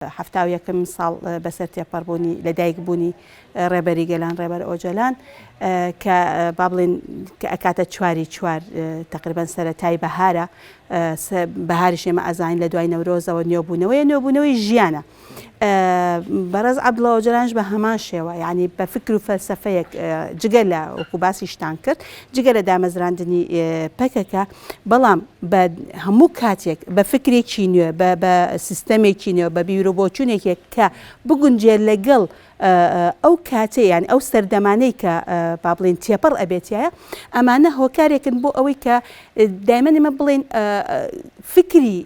حەفتا و یەکەمین ساڵ بەسەر تێپەڕبوونی لەدایکبوونی ڕێبەری گەلان ڕێبەر ئۆجەلان کە با بڵێن کە ئەکاتە چواری چوار تقریبان سەرەتای بەهارە بەهاری شێمە ئەزانین لە دوای نەورۆزەوە نوێبوونەوەی نوێبوونەوەی ژیانە بەڕێز عبدڵە ئۆجەلانش بە هەمان شێوە ینی بە فکر و فەلسفەیەک جگە لە وەکو باسیشتان کرد جگە لە دامەزراندنی پەکەکە بەڵام بە هەموو کاتێک بە فکرێکی نوێ بە بە سیستەمێکی نوێ بە بیرۆبۆچونێکێک کە بگونجێ لەگەڵ ئەو کاتێ یان ئەو سەردەمانەی کە با بڵین تێپەڕ ئەبێتایە ئەمانە هۆکارێکن بۆ ئەوەی کە دایمەنی مە بڵین فکری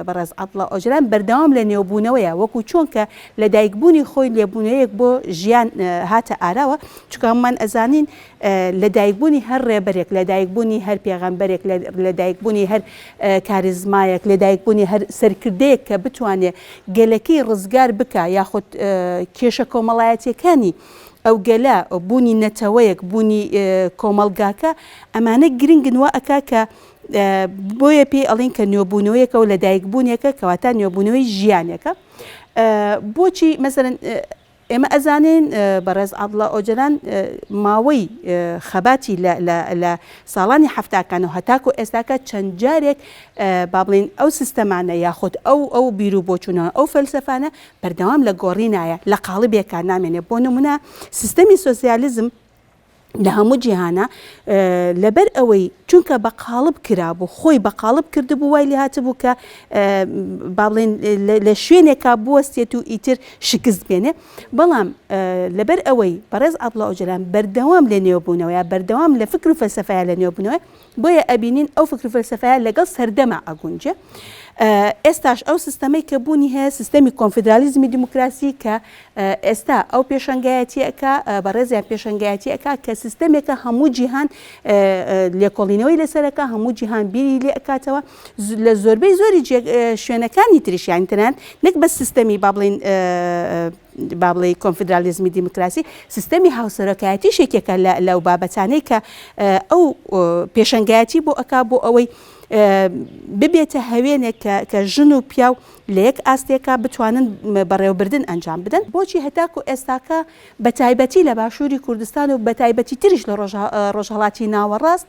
بەڕێز عبڵە ئۆجران بەردەوام لە نێوبوونەوەیە وەکو چۆن کە لە دایکبوونی خۆی لێبوونەیەک بۆ ژیان هاتە ئاراوە چکامان ئەزانین لە دایک بوونی هەر ڕێبەرێک، لە دایک بوونی هەر پێغەمبەرێک، لە دایک بوونی هەر کاریزمایەک، لە دایک بوونی هەر سەرکردەیەک کە بتوانێ گەلەکەی ڕزگار بکا یاخود کێشە کۆمەڵایەتیەکانی ئەو گەلە، بوونی نەتەوەیەک، بوونی کۆمەڵگاکە ئەمانە گرنگن وا ئەکا کە بۆیە پێی ئەڵێن کە نوێبوونەوەیەکە و لە دایک بوونێکە کەواتە نوێبوونەوەی ژیانێکە بۆچی مەسەلەن ئێمە ئەزانین بەڕێز عەبدوڵا ئۆجەلان ماوەی خەباتی لە ساڵانی حەفتاکان و هەتاکو ئێستاکە چەند جارێک با بڵێین ئەو سیستەمانە یاخود ئەو ئەو بیر و بۆچوونەوە ئەو فەلسەفانە بەردەوام لە گۆڕینایە لە قاڵبێکا نامێنێ بۆ نموونە سیستەمی سۆسیالیزم لە هەموو جیهانا لەبەر ئەوەی چونکە بە قاڵب کرابوو خۆی بە قاڵب کردبوو وای لێ هاتبوو کە با بڵێن لە شوێنێکا بوەستێت و ئیتر شکست بێنێ بەڵام لەبەر ئەوەی بەڕێز عبدڵە ئۆجلان بەردەوام لە نێوبوونەوەیە بەردەوام لە فکر و فەلسفەیە لە نێوبنەوە بۆیە ئەبینین ئەو فکرو فەلسەفەیە لەگەڵ سەردەما ئەگونجێ. ئێستاش ئەو سیستەمەی کە بوونی هەیە سیستەمی کۆنفیدرالیزمی دیموکراسی کە ئێستا ئەو پێشەنگایەتی ئەکا، بەڕێزیان پێشەنگایەتی ئەکا کە سیستەمێکە هەموو جیهان لێکۆڵینەوەی لەسەر ئەکا، هەموو جیهان بیری لێ ئەکاتەوە لە زۆربەی زۆری شوێنەکانی تریش یانی تەنانەت نەک بەس سیستەمی با بڵێین با بڵێی کۆنفیدرالیزمی دیموکراسی، سیستەمی هاوسەرۆکایەتیش یەکێکە لەو بابەتانەی کە ئەو پێشەنگایەتی بۆ ئەکا بۆ ئەوەی ببێتە هەوێنێک کە ژن و پیاو لە یەک ئاستێکا بتوانن بەڕێوەبردن ئەنجام بدەن بۆچی هەتاکو ئێستاکە بە تایبەتی لە باشووری کوردستان و بە تایبەتی تریش لە ڕۆژهەڵاتی ناوەڕاست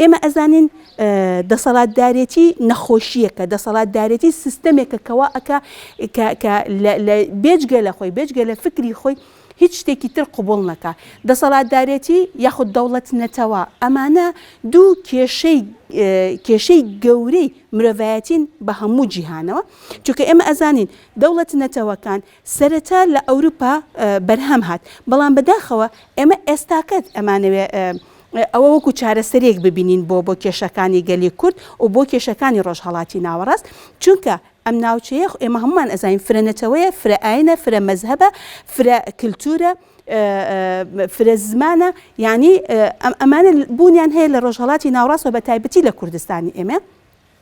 ئێمە ئەزانین دەسەڵاتدارێتی نەخۆشیەکە دەسەڵاتدارێتی سیستەمێکە کەوا ئەکا بێجگە لە خۆی بێجگە لە فکری خۆی هیچ شتێکی تر قوبڵ نەکە دەسەڵاتدارێتی یاخود دەوڵەت نەتەوە ئەمانە دوو کێشەی کێشەی گەورەی مرۆڤایەتین بە هەموو جیهانەوە چونکە ئێمە ئەزانین دەوڵەت نەتەوەکان سەرەتا لە ئەوروپا بەرهەم هات، بەڵام بەداخەوە ئێمە ئێستاکە ئەمانەوێ ئەوە وەکو چارەسەرێک ببینین بۆ بۆ کێشەکانی گەلی کورد و بۆ کێشەکانی ڕۆژهەڵاتی ناوەڕاست، چونکە ئەم ناوچەیە ئێمە هەموومان ئەزانین فرە نەتەوەیە، فرە ئاینە، فرە مەزهەبە، فرە کلتورە، فرە زمانە، یانی ئەمانە بوونیان هەیە لە ڕۆژهەڵاتی ناوەڕاست و بەتایبەتی لە کوردستانی ئێمە.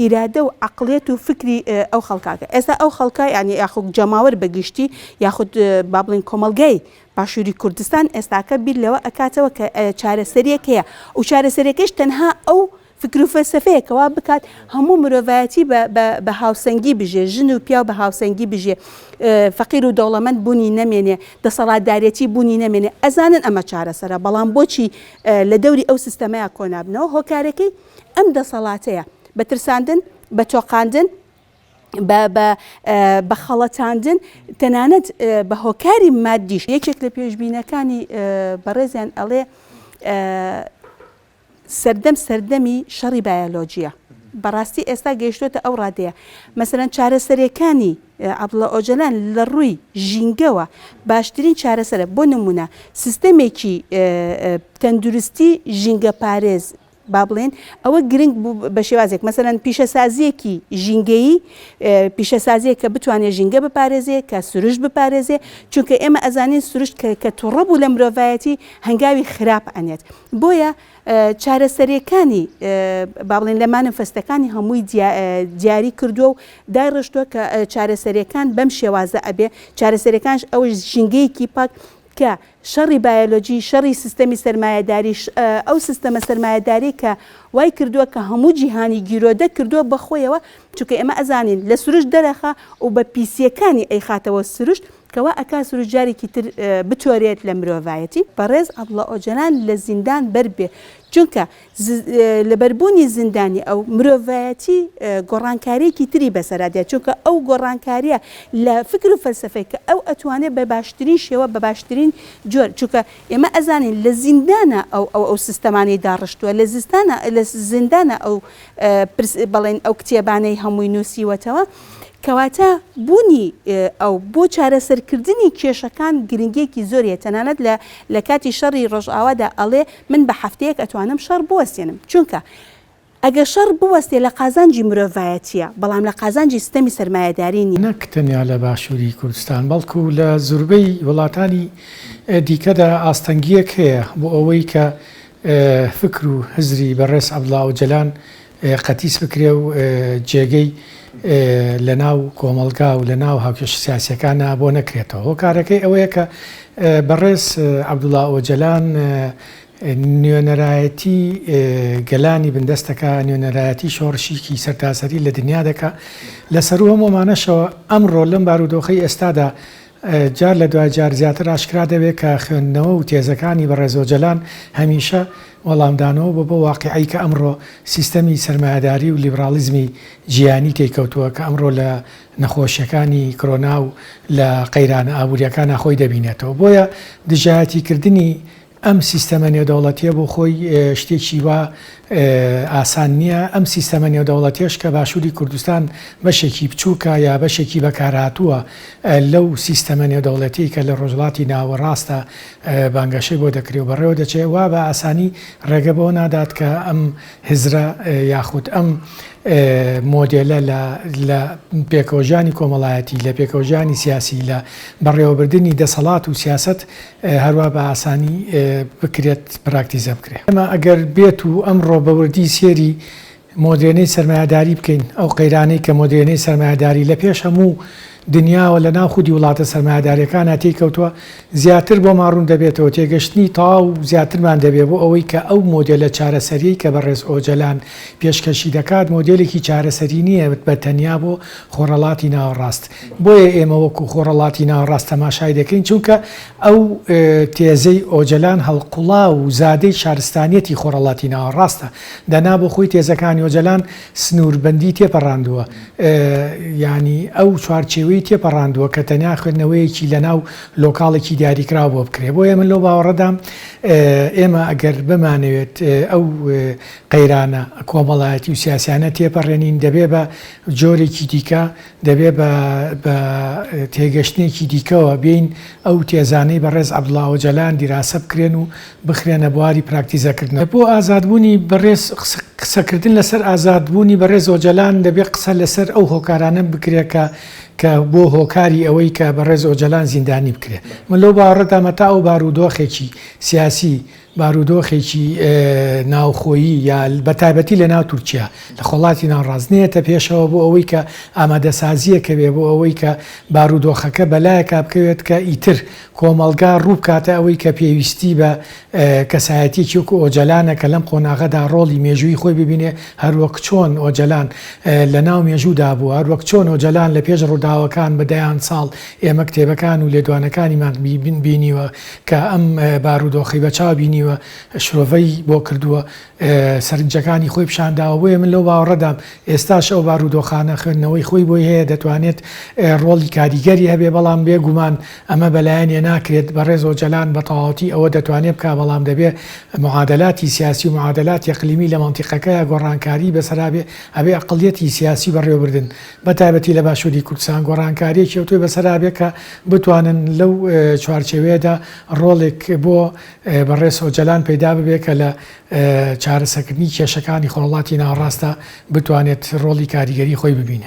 ئیرادە و عەقڵیەت و فکری ئەو خەڵکە کە ئێستا ئەو خەڵکە یانی یاخود جەماوەر بە گشتی یاخود با بڵێین کۆمەڵگای باشووری کوردستان ئێستاکە بیر لەوە ئەکاتەوە کە چارەسەریەک هەیە و چارەسەریەکەش تەنها ئەو فکر و فەلسەفەیە کە وا بکات هەموو مرۆڤایەتی بە بە بە هاوسەنگی بژێ ژن و پیاو بە هاوسەنگی بژێ فەقیر و دەوڵەمەند بوونی نەمێنێ دەسەڵاتدارێتی بوونی نەمێنێ ئەزانن ئەمە چارەسەرە بەڵام بۆچی لە دەوری ئەو سیستەمەیا کۆ نابنەوە هۆکارەکەی ئەم دەسەڵاتەیە بە ترساندن، بە تۆقاندن، بە بە بە خەڵەتاندن، تەنانەت بە هۆکاری مادیش، یەکێک لە پێشبینەکانی بەڕێزیان ئەڵێ سەردەم سەردەمی شەڕی بایەلۆجیە. بەڕاستی ئێستا گەیشتوتە ئەو ڕادەیە مەسەرەن چارەسەرەکانی عبدڵە ئۆجەلان لە ڕووی ژینگەوە باشترین چارەسەرە بۆ نمونە سیستەمێکی تەندروستی ژینگە پارێز با بڵێین ئەوە گرنگ بوو بە شێوازێک مەسەلەن پیشەسازییەکی ژینگەیی پیشەسازیە کە بتوانێت ژینگە بپارێزێ کە سروشت بپارێزێ چونکە ئێمە ئەزانین سروشت کە توڕە بوو لە مرۆڤایەتی هەنگاوی خراپ ئەنێت بۆیە چارەسەرەکانی با بڵێن لە مانفستەکانی هەمووی دیاری کردووە و دایڕشتووە کە چارەسەرەکان بەم شێوازە ئەبێ چارەسەرەکانش ئەوەی ژینگەیەکی پاک کە شەڕی بایۆلۆجی، شەڕی سیستەمی سەرمایەداری، ئەو سیستەمە سەرمایەداریەی کە وای کردووە کە هەموو جیهانی گیرۆدە کردووە بە خۆیەوە، چونکە ئێمە ئەزانین لە سروشت دەرئەخا و بە پیسییەکانی ئەیخاتەوە سروشت، کە وا ئەکا سروشت جارێکی تر بتۆرێت لە مرۆڤایەتی. بەڕێز عەبدوڵا ئۆجەلان لە زیندان بەربێ، چونکە لەبەربوونی زیندانی ئەو، مرۆڤایەتی گۆڕانکارییەکی تری بەسەرا دێت، چونکە ئەو گۆڕانکارییە لە فکر و فەلسەفەی کە ئەو ئەتوانێت بە باشترین شێوە، بە باشترین جۆر، چونکە ئێمە ئەزانین لە زیندانا ئەو ئەو ئەو سیستەمانەی داڕشتووە، لە زیستانا لە زیندانا ئەو پرس بەڵێن ئەو کتێبانەی هەمووی نووسیوەتەوە، کەواتە بوونی ئەو بۆ چارەسەرکردنی کێشەکان گرنگییەکی زۆری هەیە، تەنانەت لە لە کاتی شەڕی ڕۆژئاوادا ئەڵێ من بە هەفتەیەک ئەتوانم شەڕ بوەستێنم چونکە ئەگەر شەڕ بوەستێ لە قازانجی مرۆڤایەتیە بەڵام لە قازانجی ستەمی سەرمایەداری نیە. نەک تەنیا لە باشووری کوردستان بەڵکو لە زوربەی وڵاتانی دیکەدا ئاستەنگیەک هەیە بۆ ئەوەی کە فکر و هزری بەڕێز عەبدوڵا ئۆجەلان قەتیس بکرێ و جێگەی لە ناو کۆمەڵگا و لە ناو هاوکێشە سیاسیەکانا بۆ نەکرێتەوە هۆکارەکەی ئەوەیە کە بەڕێز عەبدوڵا ئۆجەلان نوێنەرایەتی گەلانی بندەستەکە نوێنەرایەتی شۆڕشیکی سەرتاسەری لە دنیا دەکا لە سەروو هەموومانەشەوە ئەمڕۆ لەم بارودۆخی ئێستادا جار لە دوای جار زیاتر ئاشکرا دەبێت کە خوێندنەوە و تێزەکانی بەڕێز ئۆجەلان هەمیشە وەڵامدانەوە بۆ بەو واقیعەی کە ئەمڕۆ سیستەمی سەرمایەداری و لیبراڵیزمی جیهانی تێی کەوتووە کە ئەمڕۆ لە نەخۆشیەکانی کرۆنا و لە قەیرانە ئابووریەکانا خۆی دەبینێتەوە بۆیە دژایەتی کردنی ئەم سیستەمە نێودەوڵەتیە بۆ خۆی شتێکی وا ئاسان نیە، ئەم سیستەمە نێودەوڵەتیەش کە باشوری کوردستان بەشێکی بچوکە یا بەشێکی بەکارهاتوە لەو سیستەمە نێودەوڵەتیەی کە لە ڕۆژهەڵاتی ناوەڕاستە بانگەشەی بۆ دەکرێ و بەڕێوە دەچێ وا بە ئاسانی ڕێگە بەوە نادات کە ئەم هزرە یاخود ئەم مۆدێلە لە لە پێکەوەژیانی کۆمەڵایەتی، لە پێکەوەژیانی سیاسی، لە بەڕێوەبردنی دەسەڵات و سیاسەت هەروا بە ئاسانی بکرێت پراکتیزە بکرێت. ئێمە ئەگەر بێت و ئەمڕۆ بە وردی سێری مۆدێرنەی سەرمایەداری بکەین، ئەو قەیرانەی کە مۆدێرنەی سەرمایەداری لە پێش هەموو دنیاوە لە ناو خودی وڵاتە سەرمایەدارەکانا تێی کەوتووە، زیاتر بۆمان ڕوون دەبێتەوە، تێگەشتنی تەواو زیاترمان دەبێت بۆ ئەوەی کە ئەو مۆدێلە چارەسەریەی کە بەڕێز ئۆجەلان پێشکەشی دەکات، مۆدێلێکی چارەسەری نییە بە تەنیا بۆ خۆرەڵاتی ناوەڕاست. بۆیە ئێمە وەکو خۆڕەڵاتی ناوەڕاست تەماشای دەکەین، چونکە ئەو تێزەی ئۆجەلان هەڵقوڵاو و زادەی شارستانیەتی خۆڕەڵاتی ناوەڕاستە، دەنا بۆ خۆی تێزەکانی ئۆجەلان سنووربەندی تێپەڕاندووە، یانی ئەو چوارچێوەی تێپەڕاندووە کە تەنیا خوێندنەوەیەکی لەناو لۆکاڵێکی دیاریکراو بۆ بکرێت، بۆیە من لەو باوەڕەدام ئێمە ئەگەر بمانەوێت ئەو قەیرانە کۆمەڵایەتی و سیاسیانە تێپەڕێنین دەبێت بە جۆرێکی دیکە دەبێ بە بە تێگەشتنێکی دیکەوە بێین ئەو تێزانەی بەڕێز عەبدوڵا ئۆجەلان دیراسە بکرێن و بخرێنە بواری پراکتیزەکردنەوە. بۆ ئازادبوونی بەڕێز قسەکردن لەسەر ئازادبوونی بەڕێز ئۆجەلان دەبێ قسە لەسەر ئەو هۆکارانە بکرێ کە کە بۆ هۆکاری ئەوەی کە بەڕێز ئۆجەلان زیندانی بکرێ. من لەو باوەڕەدامە تا ئەو بارودۆخێکی سیاسی بارودۆخێکی ناوخۆیی یا بە تایبەتی لە ناو تورکیا لە خۆڵاتی ناوڕاست نێتە پێشەوە بۆ ئەوەی کە ئامادەسازیە کەوێ بۆ ئەوەی کە بارودۆخەکە بەلایە کابکەوێت کە ئیتر کۆمەڵگا ڕووبکاتە ئەوەی کە پێویستی بە کەسایەتی چوک و ئۆجەلانە کە لەم قۆناغەدا ڕۆڵی مێژووی خۆی ببینێ هەروەک چۆن ئۆجەلان لە ناو مێژوودا بوو هەروەک چۆن ئۆجەلان لە پێش ڕووداوەکان بە دەیان ساڵ ئێمە کتێبەکان و لێدوانەکانیمان بینیوە کە ئەم بارودۆخەی بە چاو بینیوە، شرۆڤەی بۆ کردووە، سەرنجەکانی خۆی پیشان داوە، بۆیە من لەو باوەڕەدام ئێستاش ئەو بارودۆخانە خوێندنەوەی خۆی بۆی هەیە، دەتوانێت ڕۆڵی کاریگەری هەبێ، بەڵام بێ گومان ئەمە بە لایەنێ ناکرێت، بەڕێز ئۆجەلان بە تەواوەتی ئەوە دەتوانێ بکا، بەڵام دەبێ معادلاتی سیاسی و معادلاتی ئەقلیمی لە مەنتیقەکەیا گۆڕانکاری بەسەرا بێ، ئەبێ ئەقڵیەتی سیاسی بەڕێوەبردن بە تایبەتی لە باشووری کوردستان، گۆڕانکارییەکی ئەوتۆی بەسەرا بێت کە بتوانن لەو چوارچێوەیەدا ڕۆڵێک بۆ بەڕێز ئۆجەلان پەیدا ببێت کە لە چارەسەرکردنی کێشەکانی خۆڵڵاتی ناوەڕاستدا بتوانێت ڕۆڵی کاریگەری خۆی ببینێ.